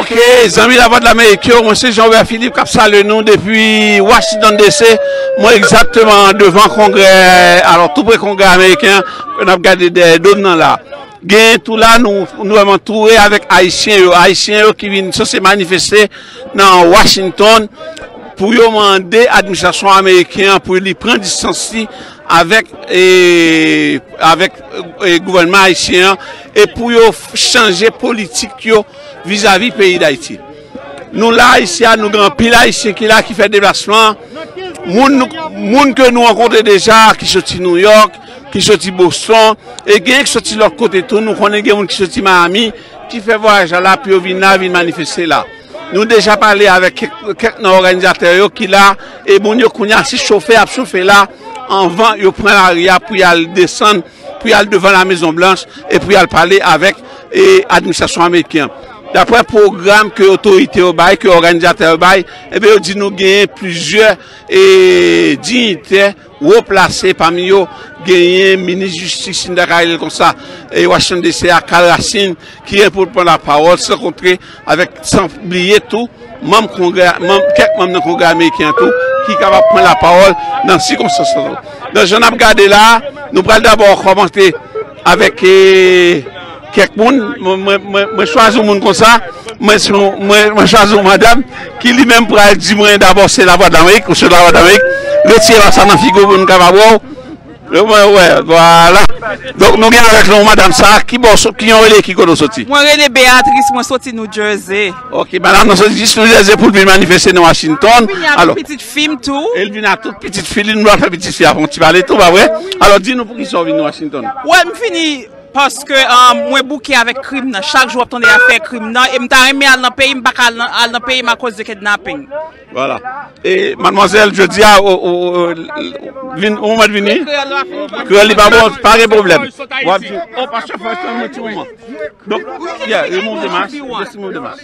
Ok zanmi la vwa de la Amerik yo, mwen se Jean Robert Philippe kap sale nou depi Washington DC Mwen egzakteman devan kongre, alò tou pre kongre Ameriken Kwen ap gade dèyè dom nan la Gen tou la nou antoure avèk Ayisyen yo Ayisyen yo ki vin sose manifeste nan Washington pou yo mande administrasyon ameriken an pou li pran distans li avèk avèk gouvènman ayisyen an e pou yo chanje politik yo vizavi peyi dayiti nou la isi a nou gen anpil ayisyen ki la ki fè deplasman moun moun ke nou ankontre deja ki soti New York ki soti Boston e gen ki soti lòt kote tou nou konnen gen moun ki soti Miami. ki fè vwayaj la la pou yo vin la vin manifeste la nou deja pale avèk kèk nan òganizatè yo ki la e moun yo kounya se chofe ap chofe la anvan yo pran lari a pou yal desann pou yal devan la mezon blanch e pou yal pale avèk e administrasyon ameriken daprè pwogram ke otorite yo bay ke òganizatè yo bay e be yo di nou genyen plizyè e dignitè. Wo plase pami yo genyen minis jistis si n ta ka rele l konsa e Washington DC a Karl Racine ki gen pou l pran lapawòl san kontre avèk san bliye tou manm kongrè manm kèk manm nan kongrè ameriken an tou ki kapab pran lapawòl nan sikonstans sa tou. Nan jan n ap gade la a nou pral dabò kòmante Avèk kèk moun, mwen chwazi yon moun konsa, mwen chwazi yon madam ki li menm pral di mwen dabò se Lavwa Damerik, ou se Lavwa Damerik, retire la sa nan figo pou nou kapab wè w. Yo mwen wè, vwala. Donk nou gen avèk nou madam sa, ki bò, ki yon rele ki kote ou soti? Mwen rele Beatrice, mwen soti New Jersey. Ok, madam nan soti jis New Jersey pou l vin manifeste nan Washington. Alò. Fim tou. Elvina tout pitit fi li nou pral fè pitit fi a fè yon ti pale tou pa vre? Alò di nou poukisa ou vin Washington? Wè m fini paske mwen bouke avèk krim nan chak jou wap tande afè krim nan e m ta renmen al nan peyi m paka al nan peyi m akoz de kidnapping. Voilà e mademoiselle jodia ou mèt vini kreyòl li pa bon pa gen pwoblèm wap di oh pastor first time yon ti moman donk yeah remove the mask just remove the mask.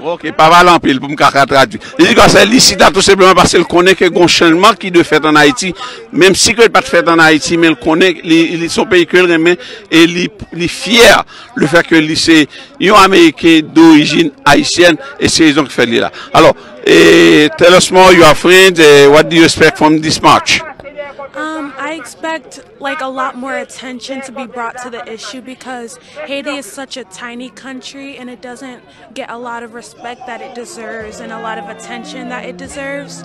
Ok, pa pale anpil pou m ka ka tradwi. Li di konsèy li chita tou senpleman paske l konnen ke gon chanjman ki dwe fèt an Ayiti, menm si ke l pat fèt an Ayiti men l konnen li son peyi ke l renmen e li fyè le fèt ke li se yon ameriken dorijin ayisyèn e se rezon ki fè li la. Alò, tell us more your friends e what do you expect from this march? I expect like a lot more attention to be brought to the issue because Haiti is such a tiny country and it doesn't get a lot of respect that it deserves and a lot of attention that it deserves.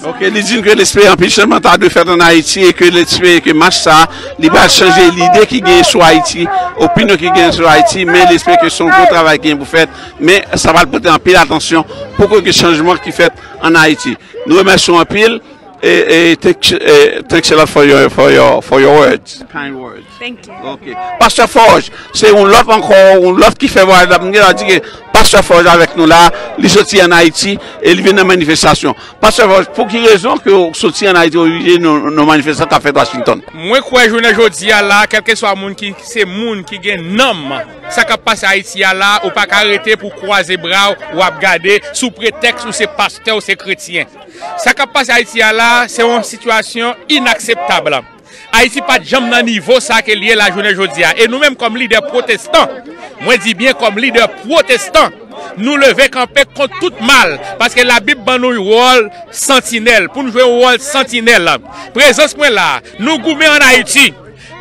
Ok, li di n ke l espere anpil chanjman ta dwe fèt an Ayiti e ke l espere ke mach sa a li pral chanje lide ki genyen sou Ayiti, opinyon ki genyen sou Ayiti, men li espere ke se yon gwo travay ki genyen pou fèt, men sa pral pote anpil atansyon pou ke gen chanjman ki fèt an Ayiti. Nou remèsye w anpil e thanks a lot for your words, kind words. Thank you. Ok. Pastè Fòj, se yon lòt ankò, yon lòt ki fè vwayaj la. M gen tan di ke Pastè Fòj avèk nou la, li soti an Ayiti e li vin nan manifestasyon. Pastè Fòj, pou ki rezon ke w soti an Ayiti, ou vin nan manifestasyon k ap fèt Washington? Mwen kwè jounen jodi a la, kèlkeswa moun ki se moun ki gen nanm, sa k ap pase Ayiti a la, ou pa ka rete pou w kwaze bra w, w ap gade, sou pretèks ou se pastè, ou se kretyen. Sa k ap pase Ayiti a la, se yon sitiyasyon inakseptab. Ayiti pat janm nan nivo sa ke li ye la jounen jodi a. E nou menm kòm lidè pwotestan, mwen di byen kòm lidè pwotestan, nou leve kanpe kont tout mal, paske Labib ban nou yon wòl santinèl, pou nou jwe yon wòl santinèl. Prezans mwen la a, nou goumen an Ayiti.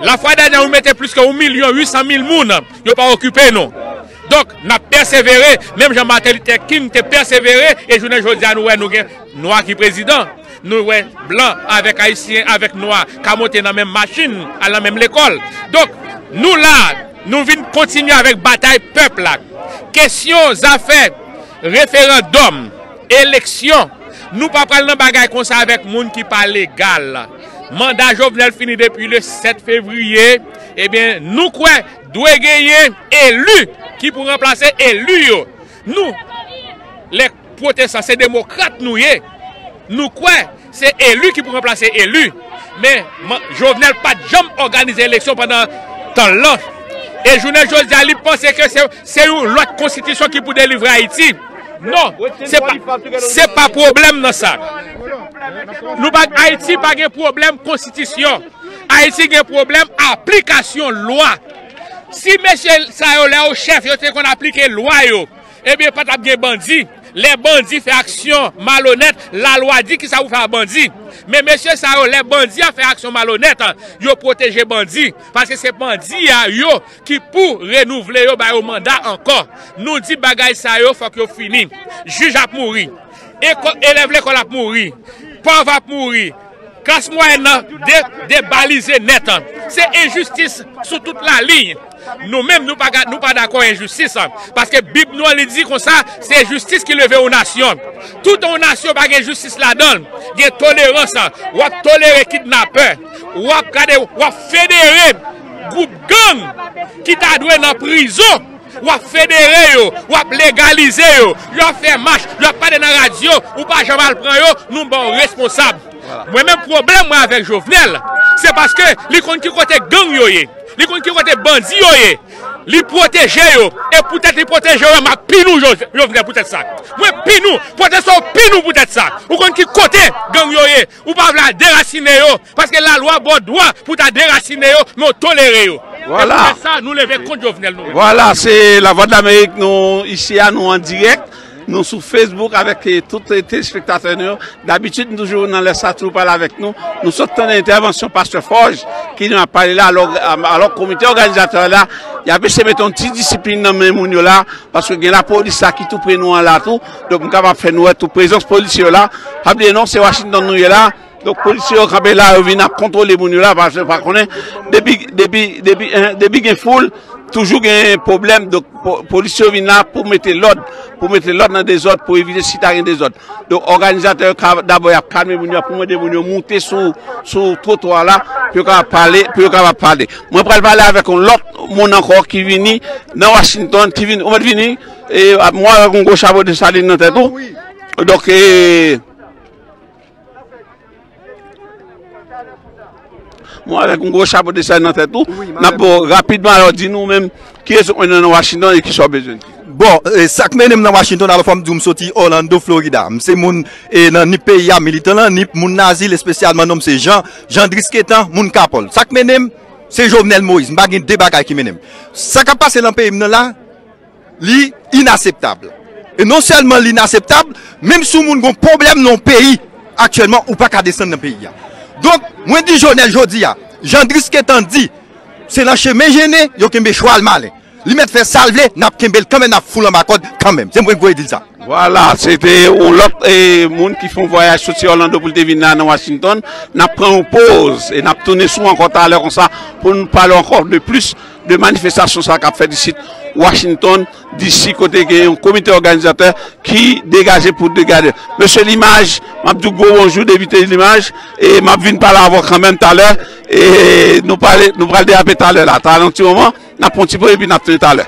Lafwa Daniel ou mete plis ke yon milyon wi san mil moun, yo pa okipe nou. Donk, n ap pèsevere, menm jan Martin Luther King te pèsevere, e jounen jodi a nou wè nou gen nwa ki prezidan, nou wè blan avèk ayisyen avèk nwa ka monte nan menm machin, al nan menm lekòl. Donk, nou la, nou vin kontinye avèk batay pèp la. Kesyon zafè referandòm, eleksyon, nou pa pral nan bagay konsa avèk moun ki pa legal. Manda Jovenel fini depi le 7 fevriye, ebyen nou kwè. Dwe genyen elu ki pou ranplase elu yo. Nou le pwotestan se demokrat nou ye. Nou kwe se elu ki pou ranplase elu. Men Jovenel pat janm oganize eleksyon pandan tanl lan. E jounen jodia li panse ke se yon lot konstitisyon ki pou delivre Ayiti. Non, se pa pwoblem nan sa. Ayiti pa gen pwoblem konstitisyon. Ayiti gen pwoblèm aplikasyon lwa. Si mesye sa yo lè yo chèf yo te konn aplike lwa yo, ebyen pa t ap gen bandi. Lè bandi fè aksyon malonèt, lalwa di kisa pou fè a bandi. Men mesye sa yo lè bandi a fè aksyon malonèt, yo pwoteje bandi. Paske se bandi a yo ki pou renouvle yo ba yo manda ankò. Nou di bagay sa yo fòk yo fini. Jij ap mouri. Elèv lekòl ap mouri. Pòv ap mouri. Klas mwayèn nan debalize nèt. Se enjistis sou tout laliy. Nou menm nou pa dakò enjistis. Paske bib nou an li di konsa se jistis ki leve yon nasyon. Tout yon nasyon pa gen jistis ladan l. Gen tolerans. W ap tolere kidnapè. W ap federe gwoup gang ki ta dwe nan prizon. W ap federe yo, w ap legalize yo, yo ap fè mach, yo ap pale nan radyo, ou pa janm al pran yo, nou ba w responsab. Mwen menm pwoblèm mwen avèk Jovenel, se paske li konn ki kote gang yo ye, li konn ki kote bandi yo ye, li pwoteje yo, e poutèt li pwoteje yo, m ap pini w Jovenel poutèt sa. Mwen pini w, pwotesto pini w poutèt sa. Ou konn ki kote gang yo ye. Ou pa vle a derasine yo, paske la lwa baw dwa pou ta derasine yo, men w tolere yo. E pou tèt sa nou leve kont Jovenel nou menm. Vwala se la vwa dlamerik nou isi a nou an dirèk nou sou Facebook avèk tout telespektatè nou yo dabitid nou toujou nan lè sa toujou pale avèk nou nou sot tande entèvansyon pastè Fòj ki nou ap pale la alò komite òganizatè la yap eseye mete yon ti disiplin nan men moun yo la paske gen lapolis la ki tou pre nou an la tou. Donk m kapab fè nou wè tou prezans polisye yo la. Pa bliye non, se Washington nou ye la. Donk polisye yo kanpe la, yo vin ap kontwole moun yo la, paske yo pa konnen. Depi, depi, depi, depi gen foul, toujou gen pwoblèm. Donk polisye yo vin la pou mete lòd, pou mete lòd nan dezòd, pou evite si ta gen dezòd. Donk òganizatè yo ka, dabò y ap kalme moun yo, y ap mande moun yo moute sou, sou twotwa la, pou yo kapab pale, pou yo kapab pale. Mwen pral pale avèk yon lòt moun ankò ki vini nan Washington, ki vini, ou mèt vini? E ap mò avèk yon gwo chapo de salin nan tèt ou. Donk e. Mò avèk yon gwo chapo de salin nan tèt ou. Nap bo rapidman alò di nou menm ki rezo kwen nan Washington e ki sa w bezwen di. Bon, sak mennen m nan Washington alò fòm di w m soti Orlando Florida. M se moun e nan nip peyi a, militan nan nip, moun nan azil espesyalman non m se Jean, Jean Drisquetan, moun Kapòl. Sak mennen m se Jovenel Moïse. M pa gen 2 bagay ki mennen m. Sa kap pase nan peyi m nan la, Li inaseptab. E non sèlman li inaseptab, menm si yon moun gon pwoblèm nan yon peyi, aktyèlman ou pa ka desann nan peyi a. Donk, mwen di Jovenel jodi a, jan Drisketan di, se nan chemen jennen, yo kenbe chwal malen. Li mèt fè sa l vle, n ap kenbe l kanmenm, n ap foul anba kòd kanmenm. Se mwen k voye di l sa. Vwala, se te yon lòt moun ki fè yon vwayaj soti Òlando pou l te vin la nan Washington. N ap pran yon poz e n ap tounen sou ankò talè konsa pou n pale ankò de plis. De manifestasyon sa kap fèt isit Washington DC kote gen yon komite òganizatè ki degaje pou degade. Mesye Limaj, m ap di w gwo bonjou depi te Limaj e m ap vin pale avè w kanmenm talè e nou pale nou pral derape talè la. Talè yon ti moman, n ap pran yon ti poz epi n ap tounen talè.